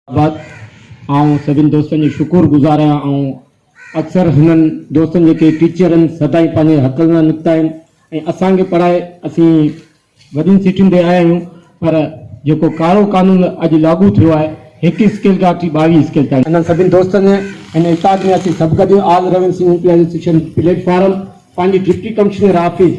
آباد آئون سڀن دوستن جو شڪر گذار آهيان آئون اڪثر هنن دوستن جيڪي ٽيچرن سدائين پنهنجي حق لاء نڪتا آهن ۽ اسان کي پڙهائي اسين وڏين سيٽن تي آيا آهيون پر جيڪو ڪارو قانون اڄ لاڳو ٿيو آهي هڪ اسڪيل کان وٺي ٻاويهه اسڪيل تائين انهن سڀن دوستن هن اتحاد ۾ اسين سڀ گڏ all revenue Sindh platform پنهنجي ڊپٽي ڪمشنر آفيس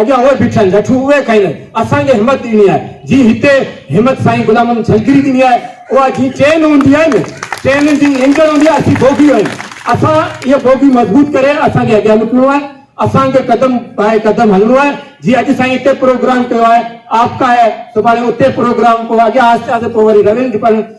اڳيان اهي بيٺا آهن لٺون اهي کائين اسان کي همت ڏني آهي جي هتي همت سائين غلام محمد جهلڪري ڏني آهي اها جي چين هوندي آهي نه چين جي انجڻ هوندي آهي اسين بوگيون آهيون اسان اها بوگي مضبوط ڪري اسان کي اڳيان نڪرڻو آهي اسان کي قدم پائي قدم هلڻو آهي جي اڄ سائين هتي پروگرام ڪيو آهي آپڪا آهي سڀاڻي اتي پروگرام پوء اڳيان آهستي آهستي پوء وري رويل ڊپارٽمينٽ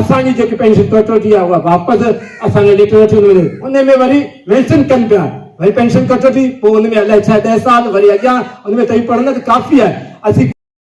اسان جي جيڪي پينشن ڪٽوتي آهي اها واپس اسان کي ڏٺو نٿي وڃي ان ۾ وري ويسٽن ڪن پيا وري پينشن ڪٽوتي پوء ان ۾ الائي ڇا ڏهه سال وري اڳيان ان ۾ توهين پڙهندا ته ڪافي آهي اسين